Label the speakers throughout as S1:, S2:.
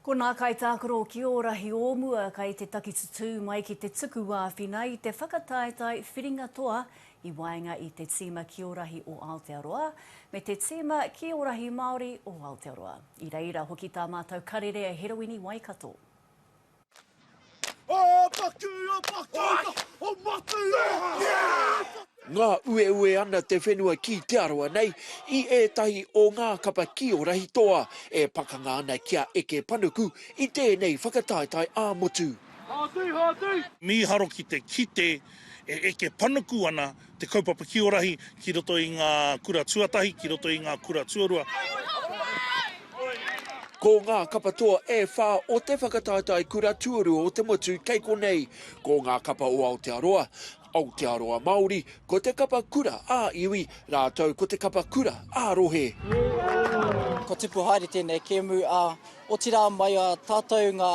S1: Ko nā kaitākaro ki ō rahi o mua kei te takitutū mai ki te tuku āwhina i te whakataetae whiringa toa i waenga i te tīma ki ō rahi o Aotearoa me te tīma ki ō rahi Māori o Aotearoa. I reira hoki tā mātou karere e Heroini Waikato.
S2: Ngā ueue ana te whenua ki te aroa nei i ētahi o ngā kapa ki o Rahitoa e pakanga ana ki a Eke Panuku i tēnei whakataetae ā-motu.
S3: Mīharo ki te kite e eke panuku ana Te kaupapa kiorahi ki roto i ngā kura tuatahi, ki roto i ngā kura tuarua.
S2: Ko ngā kapa toa e whā o te whakataetae kura tuarua o te motu kei konei, ko ngā kapa o Aotearoa, Aotearoa Māori, ko te kapa kura ā-iwi, rātou ko te kapa kura ā-rohe.
S4: Ko Tipu Haere tēnei kēmu, ā, otirā mai a tātou ngā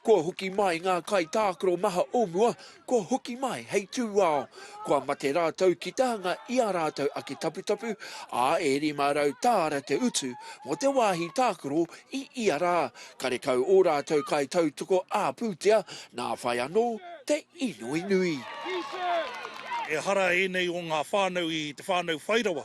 S2: Kua hoki mai ngā kaitākaro maha o mua, kua hoki mai hei tūao. Kua mate rātou ki te hanga i ā rātou ake taputapu, ā, e 500 tāra te utu mō te wāhi tākaro i ia rā. Karekau ō rātou kaitautoko ā-pūtea, nā whai anō te inoi nui.
S3: Ehara ēnei o ngā whānau i te whānau whairawa.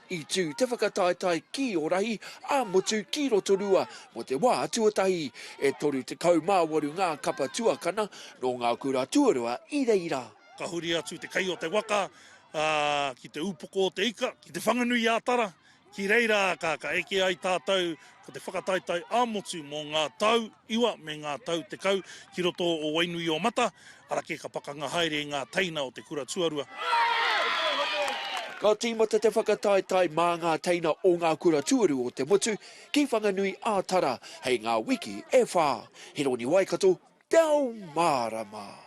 S2: I tū te whakataetae kī o Rahi ā motu ki Rotorua mō te wā tuatahi. E 38 ngā kapa tuakana nō ngā kura tuarua i reira. Ka huri atu te
S3: kai o te waka ki te upoko o te ika, ki Te Whanganui-ā-Tara, ki reira ka eke ai tātou Ko te whakataetae ā-motu mō ngā tau iwa me ngā tau tekau ki roto o Wainuiomata, ara kē ka pakanga haere i ngā teina o te kura tuarua. Ka
S2: tīmata te whakataetae mā ngā teina o ngā kura tuarua o te motu ki Whanganui ā-Tara hei ngā wiki e whā. Hironi Waikato, Te Ao Mārama.